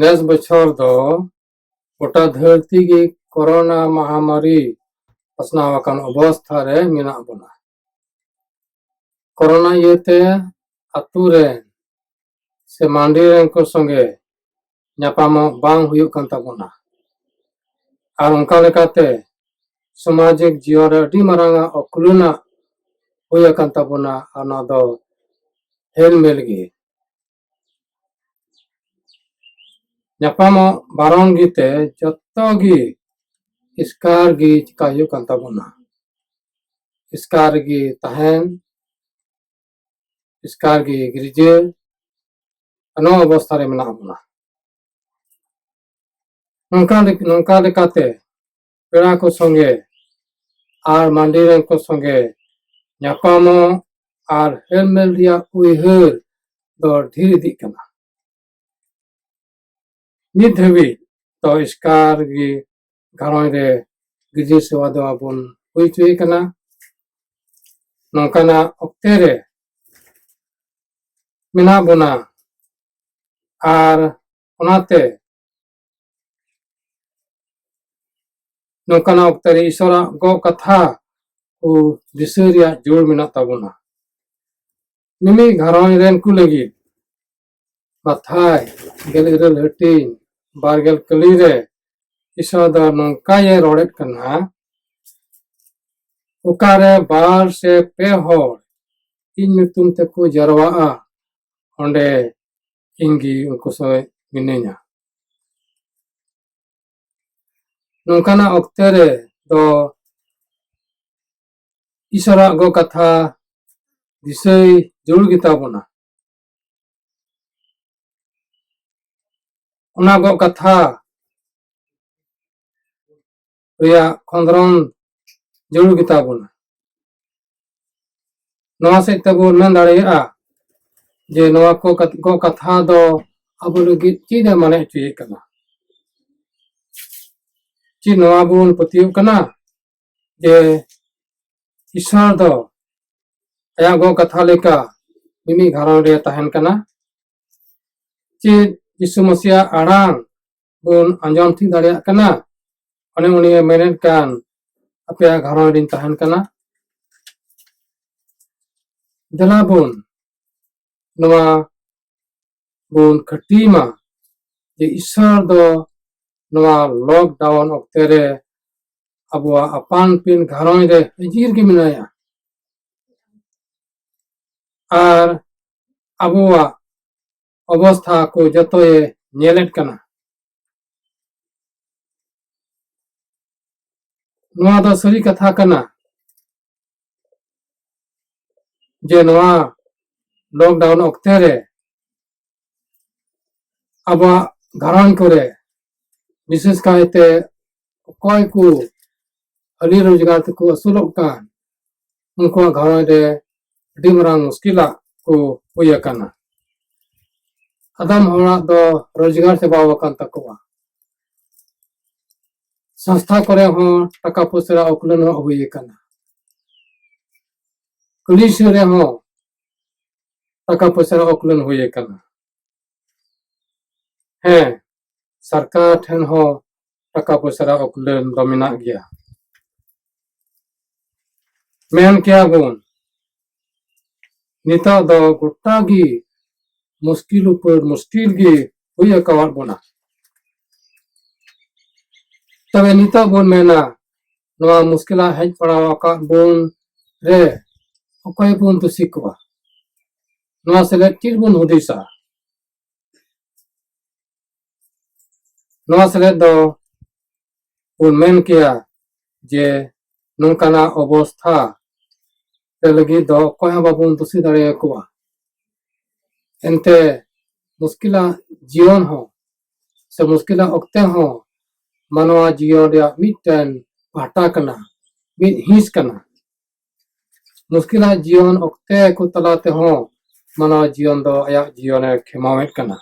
ᱱᱮᱥ ᱵᱚᱪᱷᱚᱨ ᱫᱚ ᱜᱚᱴᱟ ᱫᱷᱟᱹᱨᱛᱤ ᱜᱮ ᱠᱚᱨᱳᱱᱟ ᱢᱟᱦᱟᱢᱟᱨᱤ ᱯᱟᱥᱱᱟᱣ ᱟᱠᱟᱱ ᱚᱵᱚᱥᱛᱷᱟ ᱨᱮ ᱢᱮᱱᱟᱜ ᱵᱚᱱᱟ ᱠᱚᱨᱳᱱᱟ ᱤᱭᱟᱹᱛᱮ ᱟᱛᱳ ᱨᱮᱱ ᱥᱮ ᱢᱟᱹᱱᱰᱤ ᱨᱮᱱ ᱠᱚ ᱥᱚᱸᱜᱮ ᱧᱟᱯᱟᱢᱚᱜ ᱵᱟᱝ ᱦᱩᱭᱩᱜ ᱠᱟᱱ ᱛᱟᱵᱚᱱᱟ ᱟᱨ ᱚᱱᱠᱟ ᱞᱮᱠᱟᱛᱮ ᱥᱟᱢᱟᱡᱤᱠ ᱡᱤᱭᱚᱱ ᱨᱮ ᱟᱹᱰᱤ ᱢᱟᱨᱟᱝ ᱟᱜ ᱚᱠᱩᱞᱟᱹᱱᱟᱜ ᱦᱩᱭ ᱟᱠᱟᱱ ᱛᱟᱵᱚᱱᱟ ᱟᱨ ᱱᱚᱣᱟ ᱫᱚ ᱦᱮᱞᱢᱮᱞ ᱜᱮ ᱧᱟᱯᱟᱢᱚᱜ ᱵᱟᱨᱚᱱ ᱜᱮᱛᱮ ᱡᱚᱛᱚ ᱜᱮ ᱮᱥᱠᱟᱨ ᱜᱮ ᱪᱮᱠᱟ ᱦᱩᱭᱩᱜ ᱠᱟᱱ ᱛᱟᱵᱚᱱᱟ ᱮᱥᱠᱟᱨ ᱜᱮ ᱛᱟᱦᱮᱱ ᱮᱥᱠᱟᱨ ᱜᱮ ᱜᱤᱨᱡᱟᱹ ᱱᱚᱣᱟ ᱚᱵᱚᱥᱛᱷᱟ ᱨᱮ ᱢᱮᱱᱟᱜ ᱵᱚᱱᱟ ᱱᱚᱝᱠᱟ ᱱᱚᱝᱠᱟ ᱞᱮᱠᱟᱛᱮ ᱯᱮᱲᱟ ᱠᱚ ᱥᱚᱸᱜᱮ ᱟᱨ ᱢᱟᱹᱱᱰᱤ ᱨᱮᱱ ᱠᱚ ᱥᱚᱸᱜᱮ ᱧᱟᱯᱟᱢᱚᱜ ᱟᱨ ᱦᱮᱞᱢᱮᱞ ᱨᱮᱭᱟᱜ ᱩᱭᱦᱟᱹᱨ ᱫᱚ ᱰᱷᱮᱨ ᱤᱫᱤᱜ ᱠᱟᱱᱟ ᱱᱤᱛ ᱫᱷᱟᱹᱵᱤᱡ ᱛᱚ ᱮᱥᱠᱟᱨ ᱜᱮ ᱜᱷᱟᱨᱚᱸᱡᱽ ᱨᱮ ᱜᱤᱫᱽᱨᱟᱹ ᱥᱮᱵᱟ ᱫᱚ ᱟᱵᱚᱱ ᱦᱩᱭ ᱦᱚᱪᱚᱭᱮ ᱠᱟᱱᱟ ᱱᱚᱝᱠᱟᱱᱟᱜ ᱚᱠᱛᱮ ᱨᱮ ᱢᱮᱱᱟᱜ ᱵᱚᱱᱟ ᱟᱨ ᱚᱱᱟᱛᱮ ᱱᱚᱝᱠᱟᱱᱟᱜ ᱚᱠᱛᱮ ᱨᱮ ᱤᱥᱚᱨᱟᱜ ᱜᱚ ᱠᱟᱛᱷᱟ ᱠᱚ ᱫᱤᱥᱟᱹ ᱨᱮᱭᱟᱜ ᱡᱳᱨ ᱢᱮᱱᱟᱜ ᱛᱟᱵᱚᱱᱟ ᱢᱤᱢᱤᱫ ᱜᱷᱟᱨᱚᱸᱡᱽ ᱨᱮᱱ ᱠᱚ ᱞᱟᱹᱜᱤᱫ ᱠᱟᱛᱷᱟᱭ ᱜᱮᱞ ᱤᱨᱟᱹᱞ ᱦᱟᱹᱴᱤᱧ ᱵᱟᱨᱜᱮᱞ ᱠᱟᱹᱞᱤ ᱨᱮ ᱤᱥᱚ ᱫᱚ ᱱᱚᱝᱠᱟᱭᱮ ᱨᱚᱲᱮᱫ ᱠᱟᱱᱟ ᱚᱠᱟᱨᱮ ᱵᱟᱨ ᱥᱮ ᱯᱮ ᱦᱚᱲ ᱤᱧ ᱧᱩᱛᱩᱢ ᱛᱮᱠᱚ ᱡᱟᱨᱣᱟᱜᱼᱟ ᱚᱸᱰᱮ ᱤᱧᱜᱮ ᱩᱱᱠᱩ ᱥᱚᱸᱜᱮ ᱢᱤᱱᱟᱹᱧᱟ ᱱᱚᱝᱠᱟᱱᱟᱜ ᱚᱠᱛᱮ ᱨᱮ ᱫᱚ ᱤᱥᱚᱨᱟᱜ ᱜᱚ ᱠᱟᱛᱷᱟ ᱫᱤᱥᱟᱹᱭ ᱡᱟᱹᱨᱩᱲ ᱜᱮᱛᱟ ᱵᱚᱱᱟ ᱚᱱᱟ ᱠᱚ ᱠᱟᱛᱷᱟ ᱨᱮᱭᱟᱜ ᱠᱷᱚᱸᱫᱽᱨᱚᱱ ᱡᱟᱹᱨᱩᱲ ᱜᱮᱛᱟ ᱵᱚᱱᱟ ᱱᱚᱣᱟ ᱥᱮᱫ ᱛᱮᱵᱚᱱ ᱢᱮᱱ ᱫᱟᱲᱮᱭᱟᱜᱼᱟ ᱡᱮ ᱱᱚᱣᱟ ᱠᱚ ᱠᱚ ᱠᱟᱛᱷᱟ ᱫᱚ ᱟᱵᱚ ᱞᱟᱹᱜᱤᱫ ᱪᱮᱫ ᱮ ᱢᱟᱱᱮ ᱦᱚᱪᱚᱭᱮᱫ ᱠᱟᱱᱟ ᱪᱮᱫ ᱱᱚᱣᱟ ᱵᱚᱱ ᱯᱟᱹᱛᱭᱟᱹᱜ ᱠᱟᱱᱟ ᱡᱮ ᱠᱤᱥᱟᱬ ᱫᱚ ᱟᱭᱟᱜ ᱜᱚ ᱠᱟᱛᱷᱟ ᱞᱮᱠᱟ ᱢᱤᱢᱤᱫ ᱜᱷᱟᱨᱚᱸᱡᱽ ᱨᱮ ᱛᱟᱦᱮᱱ ᱠᱟᱱᱟ ᱪᱮᱫ ᱡᱤᱥᱩ ᱢᱟᱹᱥᱤᱭᱟᱜ ᱟᱲᱟᱝ ᱵᱚᱱ ᱟᱸᱡᱚᱢ ᱴᱷᱤᱠ ᱫᱟᱲᱮᱭᱟᱜ ᱠᱟᱱᱟ ᱚᱱᱮ ᱩᱱᱤᱭ ᱢᱮᱱᱮᱫ ᱠᱟᱱ ᱟᱯᱮᱭᱟᱜ ᱜᱷᱟᱨᱚᱸᱡᱽ ᱨᱤᱧ ᱛᱟᱦᱮᱱ ᱠᱟᱱᱟ ᱫᱮᱞᱟ ᱵᱚᱱ ᱱᱚᱣᱟ ᱵᱚᱱ ᱠᱷᱟᱹᱴᱤ ᱢᱟ ᱡᱮ ᱤᱥᱥᱚᱨ ᱫᱚ ᱱᱚᱣᱟ ᱞᱚᱠᱰᱟᱣᱩᱱ ᱚᱠᱛᱮ ᱨᱮ ᱟᱵᱚᱣᱟᱜ ᱟᱯᱟᱱ ᱟᱹᱯᱤᱱ ᱜᱷᱟᱨᱚᱸᱡᱽ ᱨᱮ ᱦᱟᱹᱡᱤᱨ ᱜᱮ ᱢᱮᱱᱟᱭᱟ ᱟᱨ ᱟᱵᱚᱣᱟᱜ ᱚᱵᱚᱥᱛᱷᱟ ᱠᱚ ᱡᱚᱛᱚᱭ ᱧᱮᱞᱮᱫ ᱠᱟᱱᱟ ᱱᱚᱣᱟ ᱫᱚ ᱥᱟᱹᱨᱤ ᱠᱟᱛᱷᱟ ᱠᱟᱱᱟ ᱡᱮ ᱱᱚᱣᱟ ᱞᱚᱠᱰᱟᱣᱩᱱ ᱚᱠᱛᱮ ᱨᱮ ᱟᱵᱚᱣᱟᱜ ᱜᱷᱟᱨᱚᱸᱡᱽ ᱠᱚᱨᱮ ᱵᱤᱥᱮᱥ ᱠᱟᱭᱛᱮ ᱚᱠᱚᱭ ᱠᱚ ᱦᱟᱹᱞᱤ ᱨᱳᱡᱽᱜᱟᱨ ᱛᱮᱠᱚ ᱟᱹᱥᱩᱞᱚᱜ ᱠᱟᱱ ᱩᱱᱠᱩᱣᱟᱜ ᱜᱷᱟᱨᱚᱸᱡᱽ ᱨᱮ ᱟᱹᱰᱤ ᱢᱟᱨᱟᱝ ᱢᱩᱥᱠᱤᱞᱟᱜ ᱠᱚ ᱦᱩᱭ ᱟᱠᱟᱱᱟ ᱟᱫᱚᱢ ᱦᱚᱲᱟᱜ ᱫᱚ ᱨᱳᱡᱽᱜᱟᱨ ᱪᱟᱵᱟᱣ ᱟᱠᱟᱱ ᱛᱟᱠᱚᱣᱟ ᱥᱚᱝᱥᱛᱷᱟ ᱠᱚᱨᱮ ᱦᱚᱸ ᱴᱟᱠᱟ ᱯᱚᱭᱥᱟ ᱨᱮᱭᱟᱜ ᱩᱠᱞᱟᱹᱱ ᱦᱚᱸ ᱦᱩᱭ ᱟᱠᱟᱱᱟ ᱠᱩᱞᱤ ᱥᱩᱨ ᱨᱮᱦᱚᱸ ᱴᱟᱠᱟ ᱯᱚᱭᱥᱟ ᱨᱮᱭᱟᱜ ᱩᱠᱞᱟᱹᱱ ᱦᱩᱭ ᱟᱠᱟᱱᱟ ᱦᱮᱸ ᱥᱚᱨᱠᱟᱨ ᱴᱷᱮᱱ ᱦᱚᱸ ᱴᱟᱠᱟ ᱯᱚᱭᱥᱟ ᱨᱮᱭᱟᱜ ᱚᱠᱞᱮᱱ ᱫᱚ ᱢᱮᱱᱟᱜ ᱜᱮᱭᱟ ᱢᱮᱱ ᱠᱮᱭᱟ ᱵᱚᱱ ᱱᱤᱛᱚᱜ ᱫᱚ ᱜᱚᱴᱟ ᱜᱮ ᱢᱩᱥᱠᱤᱞ ᱩᱯᱟᱹᱨ ᱢᱩᱥᱠᱤᱞ ᱜᱮ ᱦᱩᱭ ᱟᱠᱟᱣᱟᱫ ᱵᱚᱱᱟ ᱛᱚᱵᱮ ᱱᱤᱛᱚᱜ ᱵᱚᱱ ᱢᱮᱱᱟ ᱱᱚᱣᱟ ᱢᱩᱥᱠᱤᱞᱟ ᱦᱮᱡ ᱯᱟᱲᱟᱣ ᱟᱠᱟᱫ ᱵᱚᱱ ᱨᱮ ᱚᱠᱚᱭ ᱵᱚᱱ ᱫᱩᱥᱤ ᱠᱚᱣᱟ ᱱᱚᱣᱟ ᱥᱮᱞᱮᱫ ᱪᱮᱫ ᱵᱚᱱ ᱦᱩᱫᱤᱥᱟ ᱱᱚᱣᱟ ᱥᱮᱞᱮᱫ ᱫᱚ ᱵᱚᱱ ᱢᱮᱱ ᱠᱮᱭᱟ ᱡᱮ ᱱᱚᱝᱠᱟᱱᱟᱜ ᱚᱵᱚᱥᱛᱷᱟ ᱛᱮ ᱞᱟᱹᱜᱤᱫ ᱫᱚ ᱚᱠᱚᱭ ᱦᱚᱸ ᱵᱟᱵᱚᱱ ᱫᱩᱥᱤ ᱫᱟᱲᱮᱭᱟᱠᱚᱣᱟ ᱮᱱᱛᱮ ᱢᱩᱥᱠᱤᱞᱟᱜ ᱡᱤᱭᱚᱱ ᱦᱚᱸ ᱥᱮ ᱢᱩᱥᱠᱤᱞᱟᱜ ᱚᱠᱛᱮ ᱦᱚᱸ ᱢᱟᱱᱣᱟ ᱡᱤᱭᱚᱱ ᱨᱮᱭᱟᱜ ᱢᱤᱫᱴᱮᱱ ᱯᱟᱦᱴᱟ ᱠᱟᱱᱟ ᱢᱤᱫ ᱦᱤᱸᱥ ᱠᱟᱱᱟ ᱢᱩᱥᱠᱤᱞᱟᱜ ᱡᱤᱭᱚᱱ ᱚᱠᱛᱮ ᱠᱚ ᱛᱟᱞᱟ ᱛᱮᱦᱚᱸ ᱢᱟᱱᱣᱟ ᱡᱤᱭᱚᱱ ᱫᱚ ᱟᱭᱟᱜ ᱡᱤᱭᱚᱱᱮ ᱠᱷᱮᱢᱟᱣᱮᱫ ᱠᱟᱱᱟ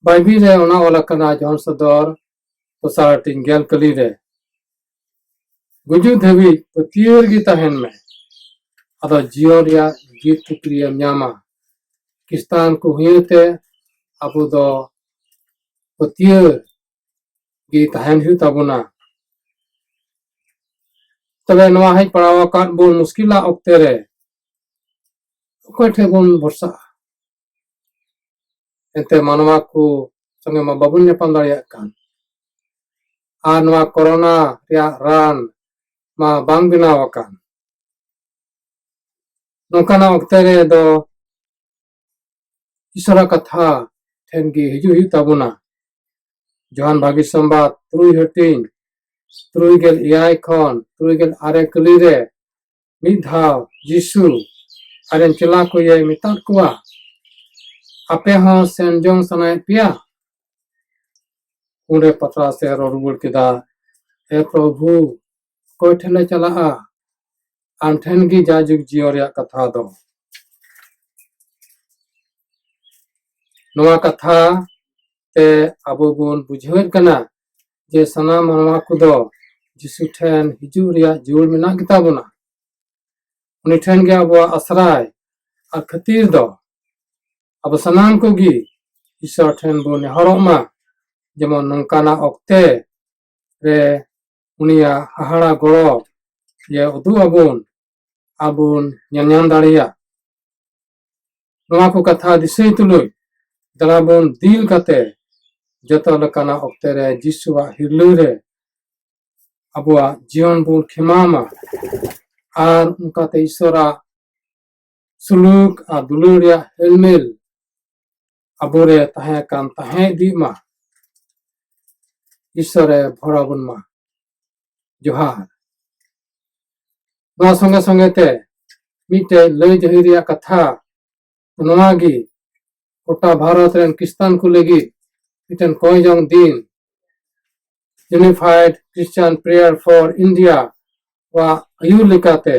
ᱵᱟᱭᱵᱤᱞ ᱨᱮ ᱚᱱᱟ ᱚᱞ ᱟᱠᱟᱱᱟ ᱡᱚᱦᱚᱱ ᱥᱚᱫᱚᱨ ᱫᱚᱥᱟᱨ ᱦᱟᱹᱴᱤᱧ ᱜᱮᱞ ᱠᱟᱹᱞᱤ ᱨᱮ ᱜᱩᱡᱩᱜ ᱫᱷᱟᱹᱵᱤᱡ ᱯᱟᱹᱛᱭᱟᱹᱣ ᱨᱮᱜᱮ ᱛᱟᱦᱮᱱ ᱢᱮ ᱟᱫᱚ ᱡᱤᱭᱚᱱ ᱨᱮᱭᱟᱜ ᱡᱤᱛ ᱛᱩᱠᱨᱤᱭᱮᱢ ᱧᱟᱢᱟ ᱠᱤᱥᱛᱟᱱ ᱠᱚ ᱦᱩᱭᱛᱮ ᱟᱵᱚ ᱫᱚ ᱯᱟᱹᱛᱭᱟᱹᱣ ᱜᱮ ᱛᱟᱦᱮᱱ ᱦᱩᱭᱩᱜ ᱛᱟᱵᱚᱱᱟ ᱛᱚᱵᱮ ᱱᱚᱣᱟ ᱦᱮᱡ ᱯᱟᱲᱟᱣ ᱟᱠᱟᱫ ᱵᱚᱱ ᱢᱩᱥᱠᱤᱞᱟᱜ ᱚᱠᱛᱮ ᱨᱮ ᱚᱠᱚᱭ ᱴᱷᱮᱱ ᱵᱚᱱ ᱵᱷᱚᱨᱥᱟᱜᱼᱟ ᱮᱱᱛᱮ ᱢᱟᱱᱣᱟ ᱠᱚ ᱥᱚᱸᱜᱮ ᱢᱟ ᱵᱟᱵᱚᱱ ᱧᱟᱯᱟᱢ ᱫᱟᱲᱮᱭᱟᱜ ᱠᱟᱱ ᱟᱨ ᱱᱚᱣᱟ ᱠᱚᱨᱳᱱᱟ ᱨᱮᱭᱟᱜ ᱨᱟᱱ ᱢᱟ ᱵᱟᱝ ᱵᱮᱱᱟᱣ ᱟᱠᱟᱱ ᱱᱚᱝᱠᱟᱱᱟᱜ ᱚᱠᱛᱮ ᱨᱮ ᱫᱚ ᱤᱥᱚᱨᱟᱜ ᱠᱟᱛᱷᱟ ᱴᱷᱮᱱ ᱜᱮ ᱦᱤᱡᱩᱜ ᱦᱩᱭᱩᱜ ᱛᱟᱵᱚᱱᱟ ᱡᱚᱦᱟᱱ ᱵᱷᱟᱜᱤ ᱥᱚᱢᱵᱟᱫ ᱛᱩᱨᱩᱭ ᱦᱟᱹᱴᱤᱧ ᱛᱩᱨᱩᱭ ᱜᱮᱞ ᱮᱭᱟᱭ ᱠᱷᱚᱱ ᱛᱩᱨᱩᱭ ᱜᱮᱞ ᱟᱨᱮ ᱠᱟᱹᱞᱤ ᱨᱮ ᱢᱤᱫ ᱫᱷᱟᱣ ᱡᱤᱥᱩ ᱟᱨᱮᱱ ᱪᱮᱞᱟ ᱠᱚ ᱤᱭᱟᱹᱭ ᱢᱮᱛᱟᱫ ᱠᱚᱣᱟ ᱟᱯᱮ ᱦᱚᱸ ᱥᱮᱱ ᱡᱚᱝ ᱥᱟᱱᱟᱭᱮᱫ ᱯᱮᱭᱟ ᱩᱱᱨᱮ ᱯᱟᱛᱨᱟᱥ ᱮ ᱨᱚᱲ ᱨᱩᱣᱟᱹᱲ ᱠᱮᱫᱟ ᱮ ᱯᱨᱚᱵᱷᱩ ᱚᱠᱚᱭ ᱴᱷᱮᱱ ᱞᱮ ᱪᱟᱞᱟᱜᱼᱟ ᱟᱢ ᱴᱷᱮᱱ ᱜᱮ ᱡᱟᱭᱡᱩᱜᱽ ᱡᱤᱭᱚᱱ ᱨᱮᱭᱟᱜ ᱠᱟᱛᱷᱟ ᱫᱚ ᱱᱚᱣᱟ ᱠᱟᱛᱷᱟ ᱛᱮ ᱟᱵᱚ ᱵᱚᱱ ᱵᱩᱡᱷᱟᱹᱣᱮᱫ ᱠᱟᱱᱟ ᱡᱮ ᱥᱟᱱᱟᱢ ᱢᱟᱱᱣᱟ ᱠᱚᱫᱚ ᱡᱤᱥᱩ ᱴᱷᱮᱱ ᱦᱤᱡᱩᱜ ᱨᱮᱭᱟᱜ ᱡᱩᱲ ᱢᱮᱱᱟᱜ ᱜᱮᱛᱟ ᱵᱚᱱᱟ ᱩᱱᱤ ᱴᱷᱮᱱ ᱜᱮ ᱟᱵᱚᱣᱟᱜ ᱟᱥᱨᱟᱭ ᱟᱨ ᱠᱷᱟᱹᱛᱤᱨ ᱫᱚ ᱟᱵᱚ ᱥᱟᱱᱟᱢ ᱠᱚᱜᱮ ᱤᱥᱚᱨ ᱴᱷᱮᱱ ᱵᱚᱱ ᱱᱮᱦᱚᱨᱚᱜ ᱢᱟ ᱡᱮᱢᱚᱱ ᱱᱚᱝᱠᱟᱱᱟᱜ ᱚᱠᱛᱮ ᱨᱮ ᱩᱱᱤᱭᱟᱜ ᱦᱟᱦᱟᱲᱟ ᱜᱚᱲᱚ ᱡᱮ ᱩᱫᱩᱜ ᱟᱵᱚᱱ ᱟᱵᱚᱱ ᱧᱮᱞ ᱧᱟᱢ ᱫᱟᱲᱮᱭᱟᱜ ᱱᱚᱣᱟ ᱠᱚ ᱠᱟᱛᱷᱟ ᱫᱤᱥᱟᱹᱭ ᱛᱩᱞᱩᱡ ᱫᱟᱬᱟ ᱵᱚᱱ ᱫᱤᱞ ᱠᱟᱛᱮ ᱡᱚᱛᱚ ᱞᱮᱠᱟᱱᱟᱜ ᱚᱠᱛᱮ ᱨᱮ ᱡᱤᱥᱩᱣᱟᱜ ᱦᱤᱨᱞᱟᱹ ᱨᱮ ᱟᱵᱚᱣᱟᱜ ᱡᱤᱭᱚᱱ ᱵᱚᱱ ᱠᱷᱮᱢᱟᱣᱢᱟ ᱟᱨ ᱚᱱᱠᱟᱛᱮ ᱤᱥᱚᱨᱟᱜ ᱥᱩᱞᱩᱠ ᱟᱨ ᱫᱩᱞᱟᱹᱲ ᱨᱮᱭᱟᱜ ᱦᱮᱞᱢᱮᱞ ᱟᱵᱚᱨᱮ ᱛᱟᱦᱮᱸ ᱟᱠᱟᱱ ᱛᱟᱦᱮᱸ ᱤᱫᱤᱜ ᱢᱟ ᱤᱥᱚᱨᱮ ᱵᱷᱚᱨᱟ ᱵᱚᱱ ᱢᱟ ᱡᱚᱦᱟᱨ ᱱᱚᱣᱟ ᱥᱚᱸᱜᱮ ᱥᱚᱸᱜᱮ ᱛᱮ ᱢᱤᱫᱴᱮᱡ ᱞᱟᱹᱭ ᱡᱟᱹᱦᱤ ᱨᱮᱭᱟᱜ ᱠᱟᱛᱷᱟ ᱱᱚᱣᱟ ᱜᱮ ᱜᱚᱴᱟ ᱵᱷᱟᱨᱚᱛ ᱨᱮᱱ ᱠᱨᱤᱥᱛᱟᱱ ᱠᱚ ᱞᱟᱹᱜᱤᱫ ᱢᱤᱫᱴᱮᱱ ᱠᱚᱭ ᱡᱚᱝ ᱫᱤᱱ unified Christian prayer for India ᱣᱟᱜ ᱟᱹᱭᱩᱨ ᱞᱮᱠᱟᱛᱮ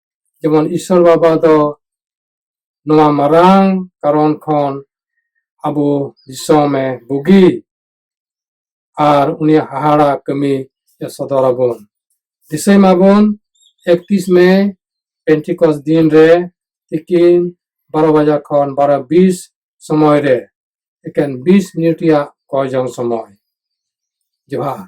ᱡᱮᱢᱚᱱ ᱤᱥᱚᱨ ᱵᱟᱵᱟ ᱫᱚ ᱱᱚᱣᱟ ᱢᱟᱨᱟᱝ ᱠᱟᱨᱚᱱ ᱠᱷᱚᱱ ᱟᱵᱚ ᱫᱤᱥᱚᱢᱮ ᱵᱩᱜᱤ ᱟᱨ ᱩᱱᱤᱭᱟᱜ ᱦᱟᱦᱟᱲᱟ ᱠᱟᱹᱢᱤ ᱥᱚᱫᱚᱨ ᱟᱵᱚᱱ ᱫᱤᱥᱟᱹᱭ ᱢᱟᱵᱚᱱ ᱮᱠᱛᱤᱥ ᱢᱮ ᱯᱮᱱᱴᱤᱠᱚᱥ ᱫᱤᱱ ᱨᱮ ᱛᱤᱠᱤᱱ ᱵᱟᱨᱚ ᱵᱟᱡᱟ ᱠᱷᱚᱱ ᱵᱟᱨᱚ ᱵᱤᱥ ᱥᱚᱢᱚᱭ ᱨᱮ ᱮᱠᱮᱱ ᱵᱤᱥ ᱢᱤᱱᱤᱴ ᱨᱮᱭᱟᱜ ᱠᱚᱭ ᱡᱚᱝ ᱥᱚᱢᱚᱭ ᱡᱚᱦᱟᱨ